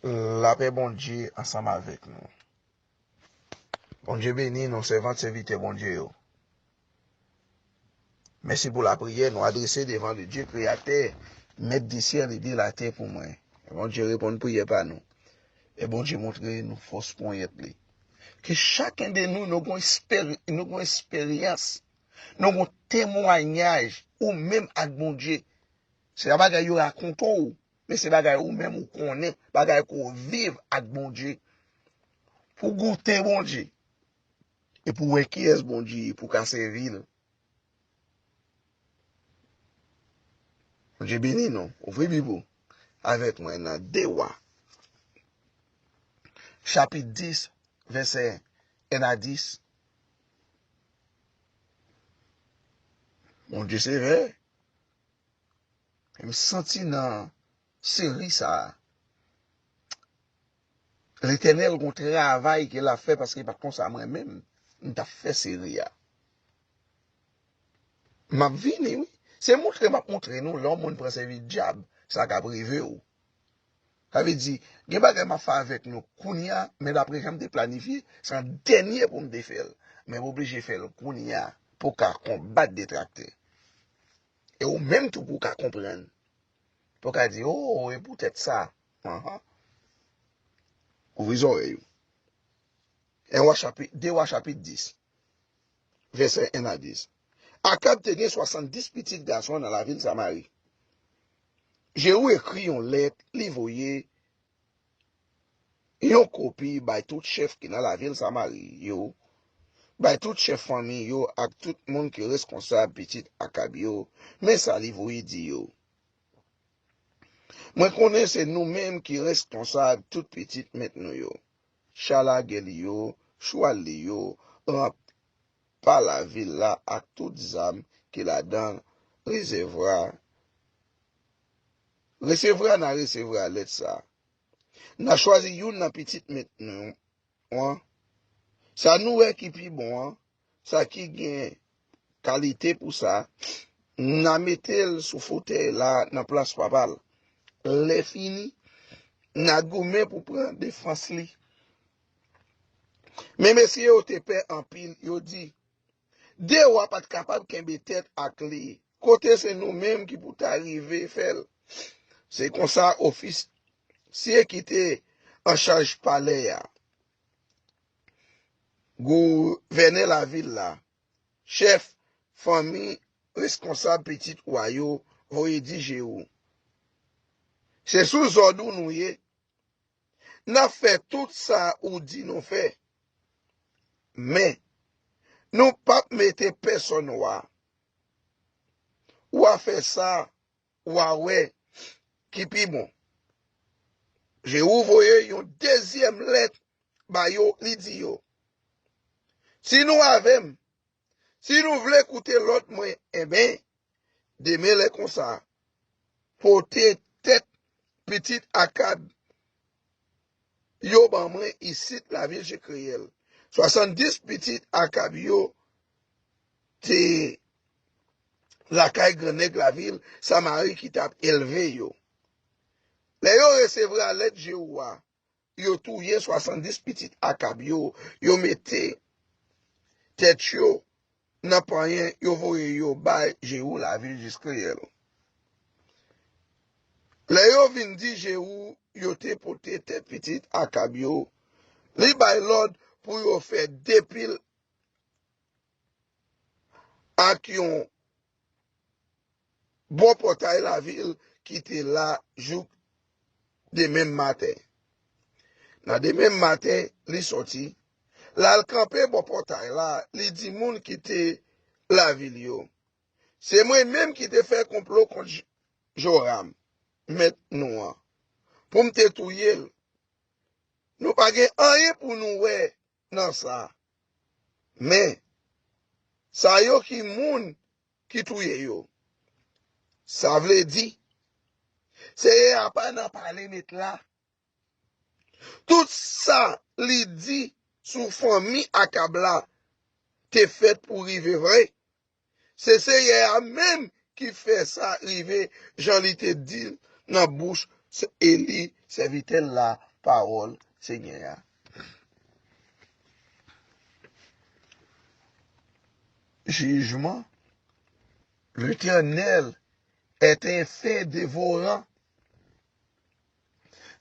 Lapè Bondye ansanm avèk nou. Bondye beni nou sèvant sèvitè Bondye yo. Mèsi pou lapriyè nou adrese devan le Dye kreyatè mèt de syèl e de latè pou mwen. E Bondye reponn priyè pa nou. E Bondye montre nou fòs ponyèt li. Ke chaken de nou nou gon esperyans, nou gon temwanyaj ou menm ak Bondye. Se pa bagay yo rakonte w, men se bagay ou menm ou konnen, bagay ke w viv ak Bondye. Pou w goute Bondye, e pou w wè kiyès Bondye ye, pou w ka sèvi l. Bondye beni nou. Ouvri Bib ou avèk mwen nan 2 Wa, chapit 10, vèsè 1 a 10. Bondye sevè. M santi nan seri sa a Letènèl gon travay ke lap fè paske pa konsa mwen menm m tap fè seri a. Map vini wi. Se moutre map moutre nou lè yon moun pran sèvis djab sa kap rive w. Sa vle di, gen bagay m ap fè avèk nou kounye a, men dapre jan m te planifye, se an dènye pou m te fè l. Men m oblije fè l kounye a pou w ka konbat detraktè. E ou menm tou pou w ka konprann. Pou w ka di, O, e poutèt sa. Anhan. Ouvri zòrèy ou. 1 Wa chapit, 2 Wa chapit 10, vèsè 1 a 10. Akab te gen swasanndis pitit gason nan lavil Samari. Jewou ekri yon lèt li voye yon kopi bay tout chèf ki nan lavil Samari yo, bay tout chèf fanmi yo ak tout moun ki reskonsab pitit Akab yo, men sa li voye di yo, Mwen konnen se nou menm ki reskonsab tout pitit mèt nou yo, cha lagè li yo, chwal li yo, pa lavil la ak tout zam ki ladan l resevra Resevra N a resevra lèt sa a N a chwazi youn nan pitit mèt nou an Sa nou wè ki pi bon an Sa ki gen kalite pou sa N a mete l sou fotèy la nan plas papa l Lèfini N a goumen pou pran defans li Men mesye yo te pè anpil, yo di, De wa pa t kapab kenbe tèt ak li, kote se nou menm ki pou ta rive fè l? Se konsa ofisye ki te anchaj palè a, gouvènè lavil la, chèf fanmi, reskonsab pitit wa yo voye di Jewou, Se sou zòd ou nou ye, N ap fè tout sa ou di nou fè. Men, nou pap mete pèsonn wa. W a fè sa w a wè ki pi bon. Jewou voye yon dezyèm lèt ba yo, li di yo, Si nou avè m, Si nou vle koute lòd mwen enben, demen lè konsa, pote tèt pitit Akab yo ban mwen isit lavil Jekreyèl. Swasanndis pitit Akab yo te lakay grannèg lavil Samari ki t ap elve yo. Lè yo resevra lèt Jewou a, yo touye 70 pitit Akab yo, yo mete tèt yo nan panyen, yo voye yo bay Jéhu lavil Jizreyèl. Lè yo vin di Jéhu yo te pote tèt pitit Akab yo, li bay lòd pou yo fè de pil ak yon bò pòtay lavil ki te la jouk demenm maten. Nan demenm maten, li sòti, l al kanpe bò pòtay la, li di moun ki te lavil yo, Se mwen menm ki te fè konplo kont Joram, mèt nou an, pou m te touye l. Nou pa gen anyen pou nou wè nan sa. Men, sa yo ki moun ki touye yo. Sa vle di, Senyè a pa nan pale nèt la. Tout sa li di sou fanmi Akab la te fèt pou rive vre, Se Seyè a menm ki fè sa rive jan li te di l nan bouch Eli, sèvitè l la, Pawòl Senyè a. Jijman Letènèl est un feu dévorant.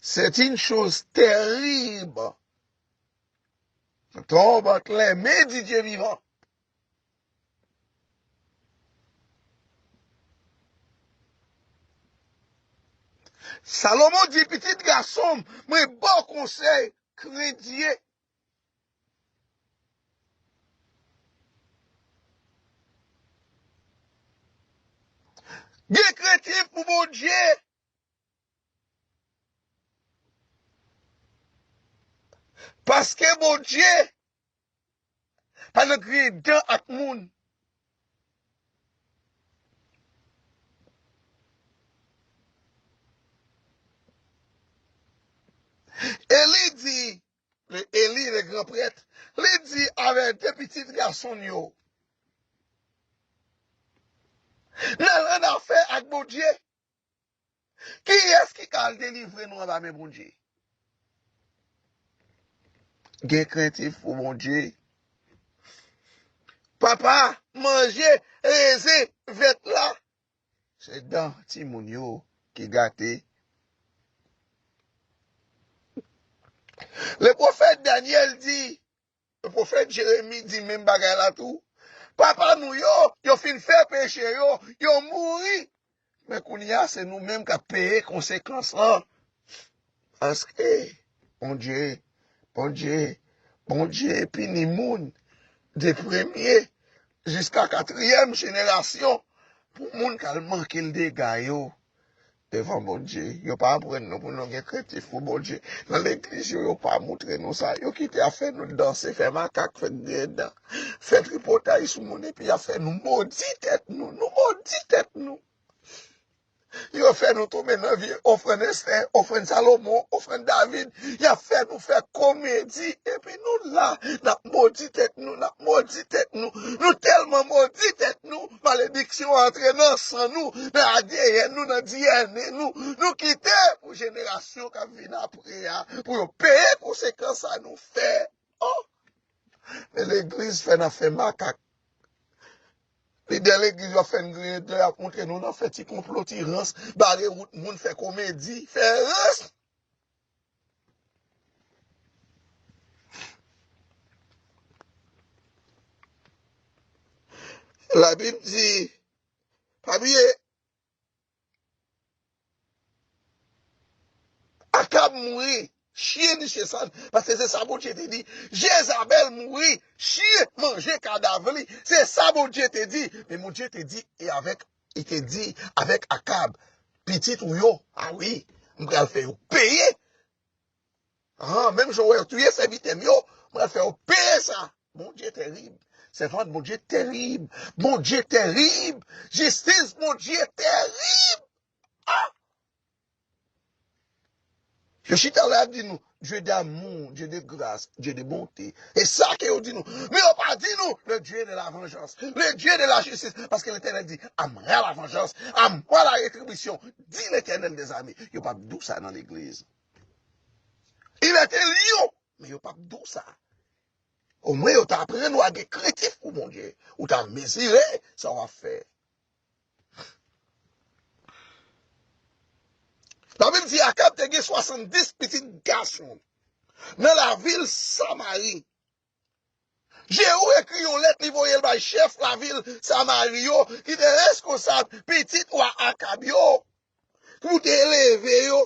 C'est une chose terrible. Ton bat lè men di Dye vivan. Salomon di pitit gason m, Mwen ba w konsèy, krenn Dye. Gen krentif pou Bondye. Paske Bondye Pa nan griyen dan ak moun. E li di, le Eli, le gran prèt, li di avè de pitit gason l yo, N al annafè ak Bondye. Kiyès ki ka al delivre nou anba men Bondye? Gen krentif pou Bondye. Papa, manje, rezen, vèt la. Se dan timoun yo ki gate. Le pwofèt Danyèl di, Pwofèt Jeremi di menm bagay la tou, Papa nou yo, yo fin fè peche yo, yo mouri, men kounye a se nou menm k ap peye konsekans lan, paske Bondye, Bondye, Bondye pini moun de premye jiska katriyèm jenerasyon pou moun k al manke l dega yo. Devan Bondye. Yo pa aprann nou pou nou gen krentif pou Bondye. Nan legliz yo, yo pa moutre nou sa. Yo kite ap fè nou danse, fè makak, fè griyen dan, fè tripotay sou moun epi y ap fè nou modi tèt nou. Nou modi tèt nou. Yo fè nou tonbe nan vye ofrann Esther, ofrann Salomon, ofrann David. Yap fè nou fè komedi epi nou la nap modi tèt nou, nap modi tèt nou. Nou tèlman modi tèt nou, malediksyon antre nan san nou, nan adeyèn nou, nan diyène nou. Nou kite pou jenerasyon kap vin apre a pou yo peye konsekans sa nou fè. Oh! Men legliz fè nan fè makak. Lidè legliz yo ap fè n griyen dlo, yap montre nou nan fè ti konplo, ti rans, bare wout moun, fè komedi, fè rans. La Bib di, pa bliye, Akab mouri, chyen niche sa, paske se sa Bondye te di, Jezabèl mouri, chyen manje kadav li, se sa Bondye te di, men Bondye te di, e avèk Li te di avèk Akab, Pitit ou yo, a wi, m pral fè yo peye. An, menm jan wè yo touye sèvitè m yo, m pral fè yo peye sa. Bondye terib. Sèvant Bondye terib. Bondye terib. Jistis Bondye terib. A! Yo chita la yap di nou Dieu d'amour, Dieu de grâce, Dieu de bonté. E sa ke yo di nou. Men yo pa di nou le Dieu de la vengeance, le Dieu de la justice. Paske Letènèl di a mwa la vanjans, a mwa la retribisyon, di Letènèl de zame. Yo pap di w sa nan legliz. Il est un lion, men yo pap di w sa. Omwen yo ta aprann ou a gen krentif pou Bondye. Ou ta mezire sa wap fè. La Bib di Akab te gen swasanndis pitit gason nan lavil Samari. Jewou ekri yon lèt li voye l bay chèf lavil Samari yo ki te reskonsab pitit wa Akab yo pou te eleve yo.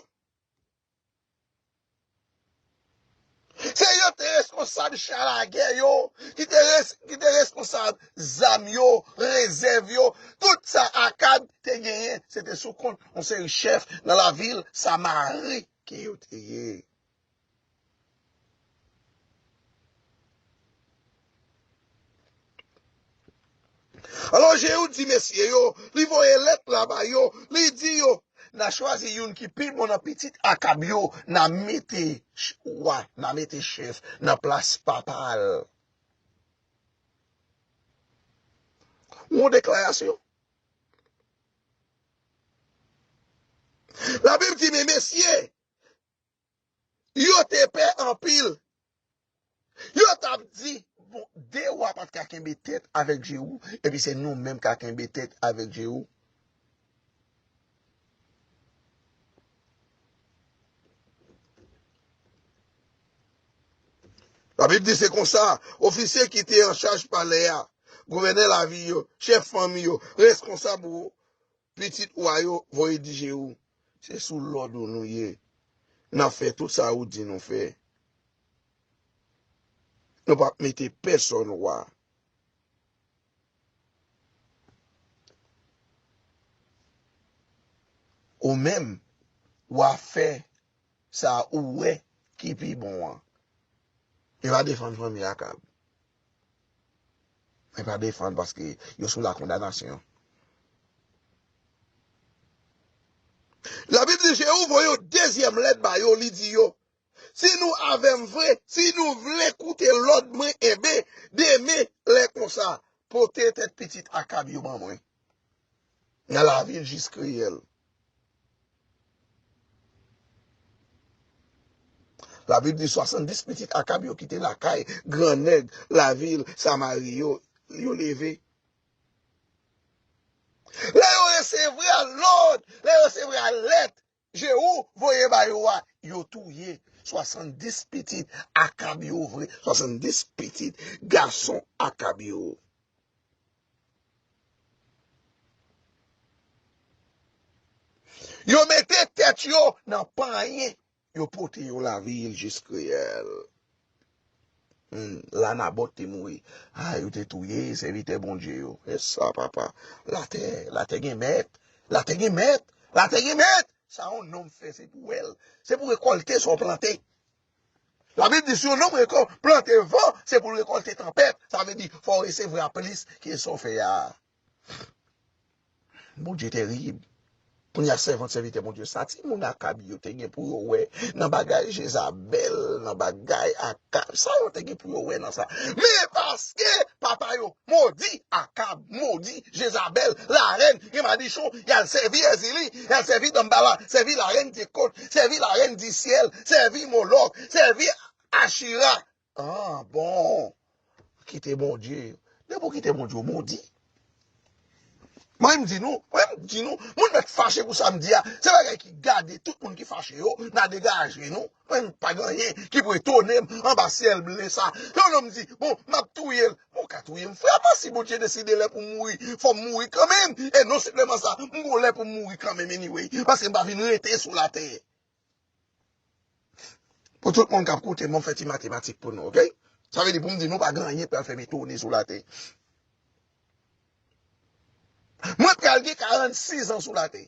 Se yo te responsab cha lagè yo, ki te responsab zam yo, rezèv yo, tout sa Akab te genyen, se te sou kont yon seri chèf nan lavil Samari ke yo te ye. Alò Jeyou di mesye yo, li voye lèt la ba yo, li di yo, N a chwazi youn ki pi bon nan pitit Akab yo, n a mete wa, n a mete chèf nan plas papa l. Yon deklarasyon! Labib di, Men mesye! Yo te pè anpil. Yo t ap di, 'Bon, de ou a pa t ka kenbe tèt avèk Jewou, epi se nou menm k a kenbe tèt avèk Jewou. Labib di, Se konsa, ofisye ki te anchaj palè a, gouvènè lavil yo, chèf fanmi yo, reskonsab Pitit ou a yo voye dije ou. Se sou lòd ou nou ye. N ap fè tout sa ou di nou fè. Nou pap mete pèsonn wa. Ou menm, w a fè sa ou wè ki pi bon an. Yo va defann fanmi Akab. Mwen pa defann paske yo sou la kondanasyon. Labib di Jewou voye yon dezyèm lèt ba yo, li di yo, Si nou avè m vre, si nou vle koute lòd mwen, enben, demen, lè konsa, pote tèt pitit Akab yo ban mwen nan lavil Jizreyèl. Labib di 70 pitit Akab yo ki te lakay gran nèg lavil Samari yo, yo leve. Lè yo resevra lòd, lè yo resevra lèt Jewou voye ba yo a, yo touye 70 pitit Akab yo vre, 70 pitit gason Akab yo. Yo mete tèt yo nan panyen. Yo pote yo lavil jis kriyèl. Humm, la Nabòt te mouri. A, yo te touye sèvitè Bondye yo. E sa, papa! Latè, latè gen mèt! Latè gen mèt! Latè gen mèt! Sa yon nonm fè, se pou wè l. Se pou rekòlte sa w plante. Labib di si yon nonm rekò plante van se pou l rekòlte tanpèt, sa vle di fò w resevra plis ke sa w fè a. Bondye terib. Kounye a sèvant sèvitè Bondye sa ti moun Akab yo te gen pou yo wè nan bagay Jezabèl, nan bagay Akab, sa yo te gen pou yo wè nan sa? Men paske papa yo Modi Akab, modi Jezabèl, larèn, gen madichon, y al sèvi Èzili, y al sèvi Danmbala, sèvi larèn Dyekòt, sèvi larèn Disyèl, sèvi Molòk, sèvi Achira. An, bon! Kite Bondye yo. Depi w kite Bondye, w modi. Mwen menm m di nou, mwen menm m di nou, moun mèt fache pou sa m di a, se bagay ki gade tout moun ki fache yo, n a degaje nou. Mwen pa gen anyen ki pou etone m anba syèl ble sa. Yon nonm di, bon, m ap touye l. Bon, w ka touye m, frè mwen, si Bondye deside lè pou m mouri, fò m mouri kanmenm. E non senpleman sa, m gon lè pou m mouri kanmenm anyway, paske m pa vin rete sou latè. Pou tout moun k ap koute m, an m fè ti matematik pou nou, ok? Sa vle di pou m di nou pa gen anyen k pral fè m etone sou latè. Mwen pral gen 46 an sou latè.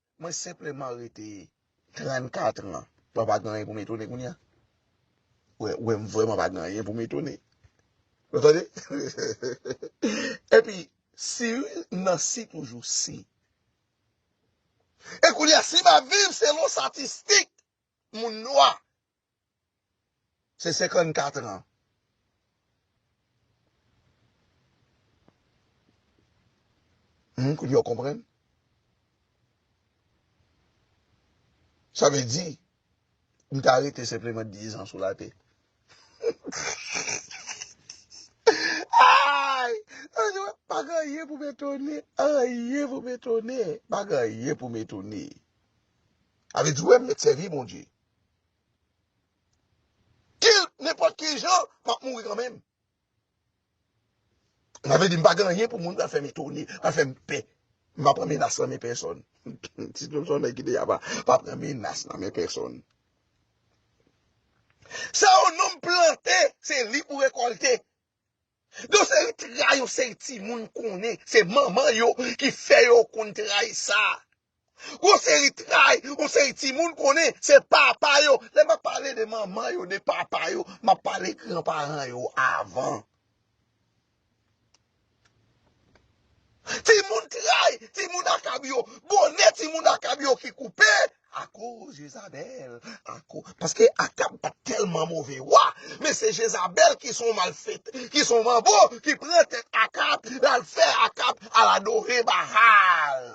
Mwen senpleman rete 34 an. Mwen pa gen anyen pou m etone kounye a. Ou wè m vrèman pa gen anyen pou m etone. Ou tande? Epi, si nan si toujou, si. E kounye a, si m ap viv selon statistik moun nwa, Se 54 ans. Humm kounya w konprann. Sa vle di, m ta rete senpleman 10 ans sou la tè. Ayy! Pa gen anyen pou m etone. Anyen pou m etone. Pa gen anyen pou m etone. A vle di w wè m met sèvi Bondye. Kill nenpòt ki jan, map mouri kanmenm. Sa vle di m pa gen anyen pou moun pral fè m etone, pral fè m pè. M pa pran menas nan men pèsòn. Ti Snoop se yon nèg ki deja pa pran menas nan men pèsòn. Sa yon nonm plante, se li pou rekòlte. Yon seri trayi yon seri timoun konnen se manman yo ki fè yo konn trayi sa. Yon seri trayi yon seri timoun konnen se papa yo. Lè map pale de manman yo, de papa yo, map pale gran paran yo avan. Timoun tray, timoun akab yo, bonè timoun akab yo ki koupe akoz Jezabèl, ako, paske Akab pa t tèlman move wa, men se Jezabèl ki s on malfète, ki s on manbo ki pran tèt Akab, l al fè Akab al adore Bahal.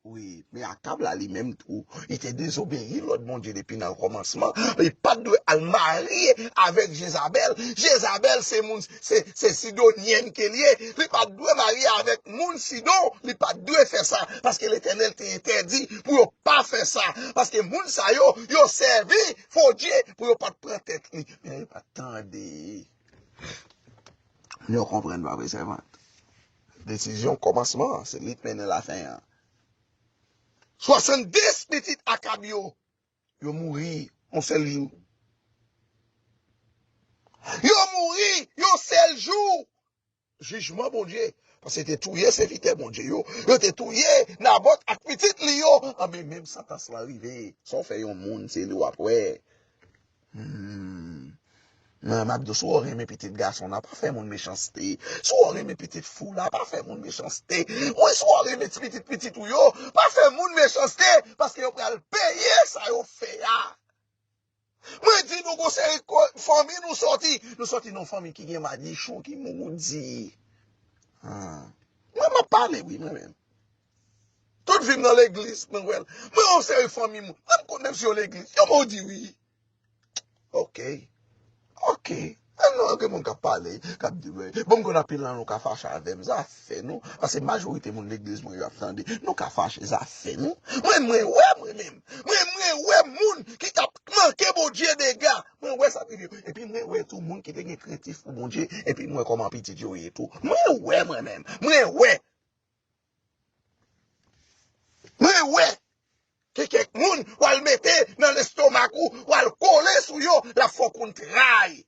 Wi, men Akab la li menm tou, li te dezobeyi lòd Bondye depi nan kòmansman, li pa t dwe al marye avèk Jezabèl, Jezabèl se moun, se Sidonyèn ke li ye, li pa t dwe marye avèk moun Sidon, li pa t dwe fè sa, paske Letènèl te entèdi pou yo pa fè sa, paske moun sa yo, yo sèvi fo dye pou yo pa t pran tèt li, men yo pa t tande. Nou konprann pa vre sèvant? Desizyon kòmansman an, se li k mennen lafen an. 70 pitit Akab yo, yo mouri yon sèl jou. Yo mouri yon sèl jou! Jijman Bondye, paske yo te touye sèvitè Bondye yo, yo te touye Nabòt ak pitit li yo, anben menm santans lan rive. Sa w fè yon moun, se li w ap wè. Humm m ap diw si w renmen pitit gason la pa fè moun mechanste si w renmen pitit fi w la pa fè moun mechanste mwen si w renmen ti pitit pitit ou yo pa fè moun mechanste paske yo pral peye sa yo fè a mwen di nou gon seri fanmi nou soti nou soti nan fanmi ki gen madichon ki moudi humm mwen m ap pale wi mwen menm. Tout vim nan legliz mwen wèl. Mwen yon seri fanmi moun. Mwen m konn menm si yo legliz. Yo modi wi. Ok. Ok. An nou an gen moun kap pale. Kap di we. Bon m konn anpil nan nou ka fache avèm. Zafè nou. Pase majorite moun legliz mwen yo ap tande. Nou ka fache. Zafè nou. Mwen m mwen wè mwen menm. Mwen m mwen wè moun ki tap manke Bondye dega. Mwen wè sa rive. E pi mwen wè tou moun ki te gen krentif pou Bondye. E pi mwen wè koman pitit yo ye tou. Mwen wè mwen menm. Mwen wè. Mwen wè gen kèk moun wal mete nan lestomak ou wal kole sou yo lap fè w konn tray.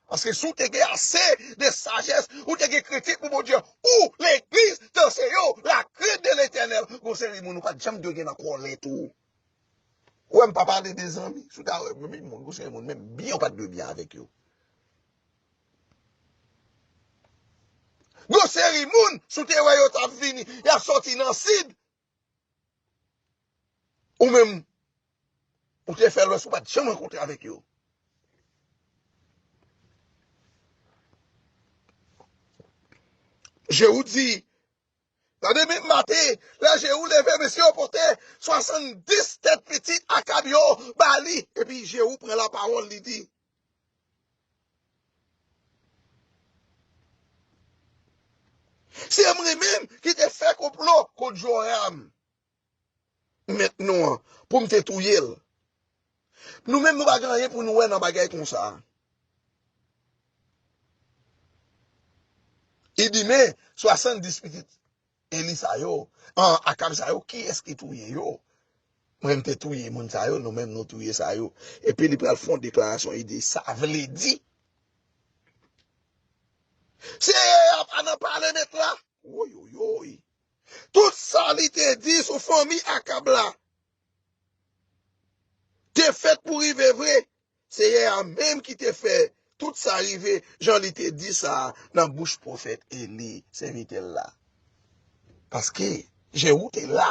Paske si w te gen ase de sajès ou te gen kritik pou Bondye ou legliz te anseye w la krent de letènèl gon seri moun ou pat janm dwe gen nan kòlèt ou. Ou wè m pa pale de zanmi si w ta wè m menm gon seri moun menm byen ou pat dwe byen avèk yo. Yon seri moun, si w te wè yo t ap vini, y ap soti nan sid, ou menm ou te fè lwès ou pa t janm rankontre avèk yo. Jewou di, Tande men Mate, lè je ou leve mesye yo pote 70 tèt pitit Akab yo ba li. Epi Jehou pran lapawòl, li di. Se mwen menm ki te fè konplo kont Joram. mèt nou an pou m te touye l. Nou menm nou pa gen anyen pou nou wè nan bagay konsa. Li di, Men, 70 pitit Eli sa yo, an, Akab sa yo, kiyès ki touye yo? Mwen m te touye moun sa yo, nou menm nou touye sa yo. Epi li pral fè yon deklarasyon, li di, Sa vle di, Seyè a pa nan pale mèt la. Woywoywoy! Tout sa li te di sou fanmi Akab la te fèt pou rive vre. Seyè a menm ki te fè tout sa rive jan li te di sa a nan bouch pwofèt Eli, sèvitè l la. Paske, je ou te la.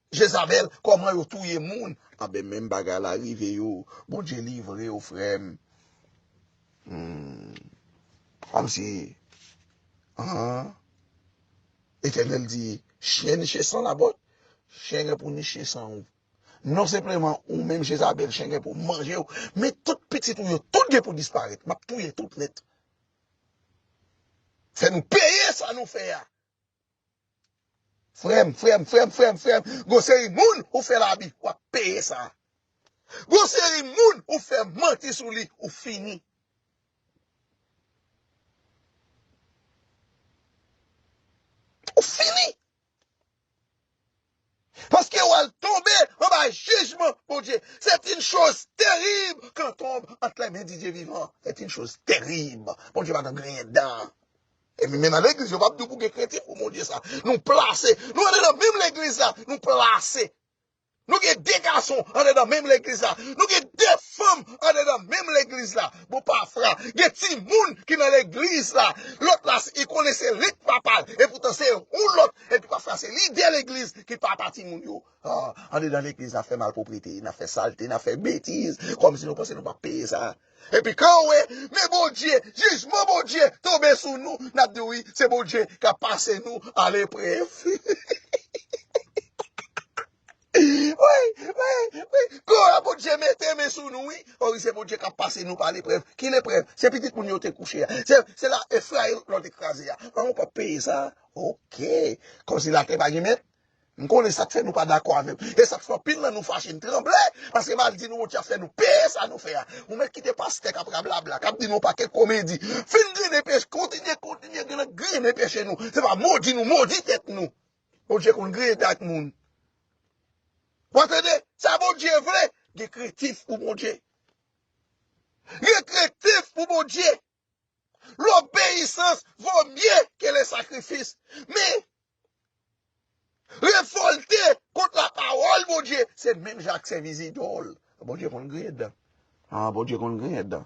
Jezabel koman yo touye moun. Anben menm bagay la rive yo bondye livre ou frem humm komsi humm Eternel di chyen niche san labot chyen gen pou niche san ou non senpleman ou menm jezabel chyen gen pou manjew men tout pitit ou yo tout gen pou disparet map touye tout net fè nou peye sa nou fè a Frèm, frèm, frèm, frèm, frèm, gon seri moun ou fè labi, w ap peye sa. Gon seri moun ou fè manti sou li, ou fini. Ou fini! Paske ou al tonbe anba jijman Bondye. C'est une chose terrible quand tombe entre les mains du Dieu vivant. C'est une chose terrible. Bondye pa nan griyen dan. Epi menm nan legliz yo pap di w pou gen krentif pou Bondye sa. Nou plase, nou antre nan menm legliz la, nou plase. Nou gen 2 gason antre nan menm legliz la. Nou gen 2 fanm antre nan menm legliz la. Bon pafra, gen timoun ki nan legliz la. Lòt la, li konnen se lit papa l. Epoutan se yon lòt Epi pafwa se lidè legliz ki papa timoun yo. Ahh andedan legliz nap fè malproprete, nap fè salte, nap fè betiz kòmsi nou panse nou pap peye sa. Epi kanw wè men Bondye, jijman Bondye tonbe sou nou nap di wi se Bondye kap pase nou a leprèv. Woy, woy, woy, Glwa Bondye mete men sou nou wi. O wi se Bondye kap pase nou pa leprèv. Ki leprèv? Se pitit moun yo te kouche a. Se, se la Efrain lòt lò te kraze a. An ou pap peye sa? Ok. Kòmsi latè pa gen mèt? M konnen sak fè nou pa dakò avè m. E sak fè anpil nan nou fache, n tranble. Paske mal di nou Bondye ap fè nou peye sa nou fè a. Ou mèt kite pastè kap rablabla, kap di nou pakèt komedi. Fin grennen peche, kontinye, kontinye grennen peche nou. Se pa modi nou modi tèt nou. Bondye konn griyen dag moun. Wa tande sa Bondye vle, gen krentif pou Bondye. Gen krentif pou Bondye. Lobeyisans vo mye ke le sakrifis. Men, revolte kont la pawol Bondye, se menm jan ak sevi zidol. Bondye konn griyen dan. Ha, Bondye konn griyen dan.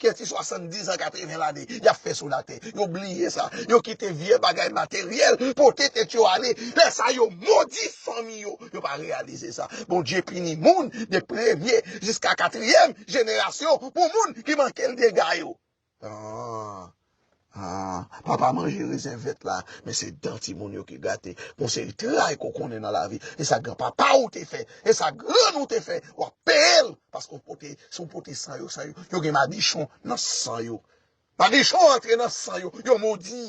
kè ti 70 an 80 lane yap fè sou latè yo bliye sa yo kite vye bagay materyèl pote tèt yo ale lè sa yo modi fanmi yo yo pa reyalize sa Bondye pini moun de premye jiska katriyèm jenerasyon pou moun ki manke l dega yo. Haa papa manje rezen vèt la men se dan timoun yo ki gate gon seri tray ke w konnen nan lavi e sa gran papa w te fè e sa grann ou te fè w ap peye l paske w pote si w pote san yo san yo yo gen madichon nan san yo madichon antre nan san yo yo modi.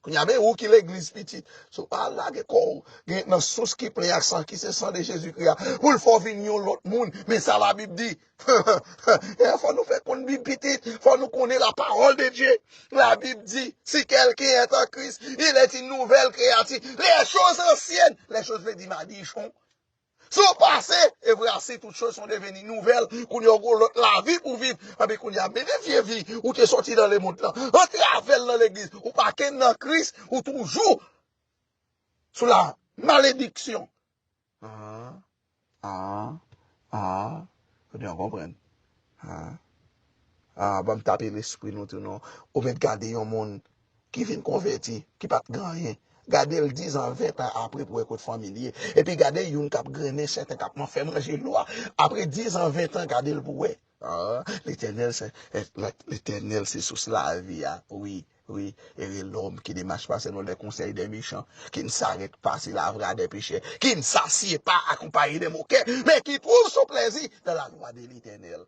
Kounya men ou ki legliz pitit sou pa al lage kòw gen nan sous ki plen ak san ki se san de Jezi kri a poul fè w vin yon lòt moun men sa la bib di eeh fò nou fè konn bib pitit fò nou konnen la pawòl de Dye la bib di si kèlken èt an Kris il èt in nouvèl kreyati lè choz ansyèn lè choz vle di madichon Se yon pase, evre asi tout choz son deveni nouvèl, kounye ou gon lòt lavi pou viv, anben kounye a mete vye vi ou te sòti nan lemond lan, antravel nan legliz, ou pa kenn nan Kris, ou toujou sou la malediksyon. Aa aa aa ebyen ou konprann aa aa banm tape lespri nou tou non ou mèt gade yon moun ki vin konvèti, ki pa t gen anyen, gade l dizan, ventan apre pou wè kot fanmi l ye. Epi gade youn k ap grennen sèten, k ap man fè manje lwa, apre dizan, ventan, gade l pou wè. Aa, Letènèl se, Letènèl se sous lavi a, wi, wi, ere lòm ki ne mach pa selon lè konsèy dè mechan, ki n sarèt pa si lavra dè pechè, ki n sasye pa akonpaye dè mokè, men ki twouv son plèzi dan lalwa de Letènèl.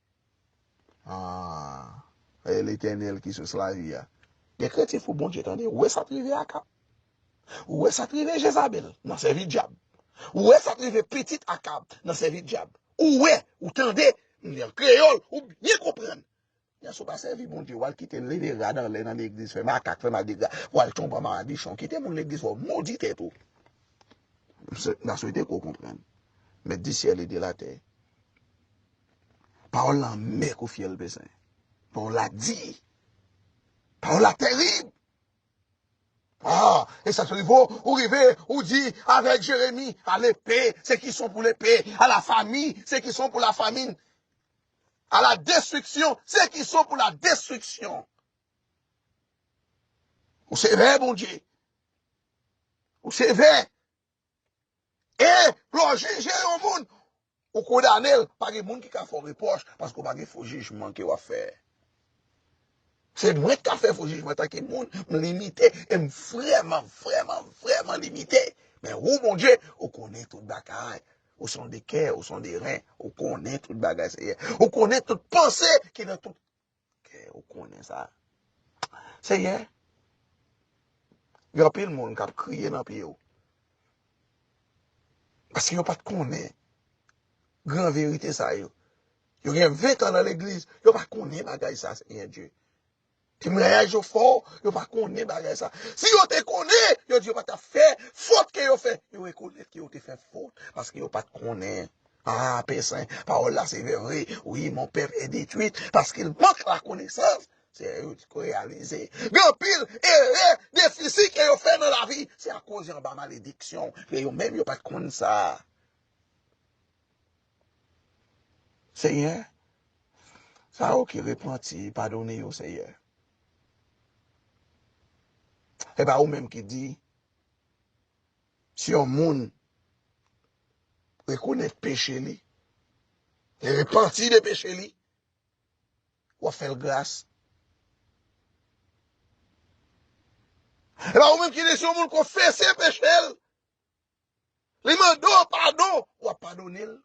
Ahh e Letènèl ki sous lavi a. Gen kretyen fou Bondye tande. Ou wè sa t rive Akab. Ou wè sa t rive Jezabèl nan sèvi dyab. Ou wè sa t rive pitit Akab nan sèvi dyab. Ou wè, ou tande, m li an kreyòl, ou byen konprann. Lè sa w pa sèvi Bondye, w al kite leve rad anlè nan legliz, fè makak, fè madigra, w al tonbe anba madichon. Kite moun legliz fè w modi tèt ou. M ta swete ke w konprann. Mèt di syèl e de latè. Pawòl la anmè kou fyèl pesen. Pawòl la di. Pawòl la terib. Ah! E sa k rive w? Ou rive, ou di avèk Jeremi, A lepe, se ki son pou lepe! A la famin, se ki son pou la famin! A la destriksyon, se ki son pou la destriksyon! Ou sevè, Bondye. Ou sevè. E lè w jije yon moun, ou kondane l. Pa gen moun ki ka fè w repwòch paske w pa gen fo jijman ke w ap fè. Se mwen ki ka fè fo jijman antanke moun. M limite e m vrèman, vrèman, vrèman limite. Men ou, Bondye, ou konnen tout bagay. Ou sonde kè, ou sonde ren. Ou konnen tout bagay, Seyè. Ou konnen tout panse ki nan tout Ok ou konnen sa. Seyè, gen anpil moun k ap kriye nan pye ou. Paske yo pa t konnen gran verite sa yo. Yo gen ventan nan legliz, yo pa konnen bagay sa, Seyè Dye. Temwayaj yo fò, yo pa konnen bagay sa. Si yo te konnen, yo di yo pa t ap fè fot ke yo fè. Yo rekonèt ke yo te fè fot, paske yo pa t konnen. Ah pè sen pawòl la sevè vre wi mon pèp è detwit paskel mank la konesans se lè yo ko reyalize gen anpil erè defisi ke yo fè nan lavi se akoz yo anba malediksyon ke yo menm yo pat konn sa senyè sa yo ki repanti padone yo senyè epa ou menm ki di Si yon moun rekonèt peche li, li repanti de peche li, w ap fè l gras. Epi ou menm ki di si yon moun konfese peche l, li mande w padon, w ap padone l.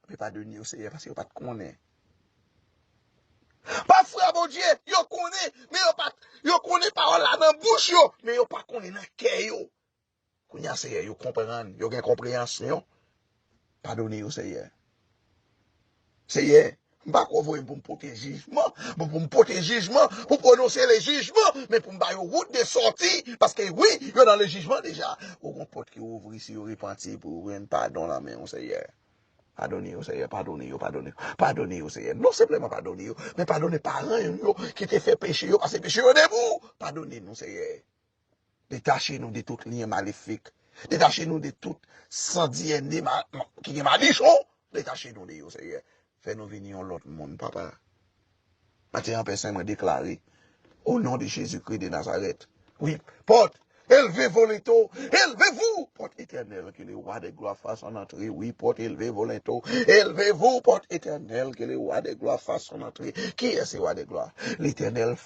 La plipa de nèg yo se paske yo pa t konnen. Pafwa Bondye, yo konnen, men yo pa t, yo konnen pawòl la nan bouch yo, men yo pa konnen nan kè yo. Kounye a Seyè yo konprann, yo gen konpreyansyon, padone yo Seyè. Seyè, m pa kwè w voye m pou m pote jijman, pou pou m pote jijman, pou pwononse le jijman, men pou m ba yo wout de sòti, paske wi, yo nan le jijman deja. Ou gon pòt ki ouvri si yo repanti pou yo jwenn padon nan men w Seyè. Padone yo Seyè, padone yo, padone yo, padone yo Seyè. Non senpleman padone yo, men padone paran yo ki te fè peche yo, pase peche yo de pou w. Padone nou Seyè. Detache nou de tout lyen malefik. Detache nou de tout san DNA ki gen madichon. Detache nou de yo, Senyè. Fè nou vin yon lòt moun, Papa. Maten an, Pè Sen, mwen deklare, o non de Jezi Kri de Nazarèt, wi, pòt, elve volento, elve vou, pòt etènèl, ke le Wa de Glwa fason antre, wi, pòt, elve volento, elve vou, pòt etènèl, ke le Wa de Glwa fason antre. Kiyès se Wa de Glwa? Letènèl.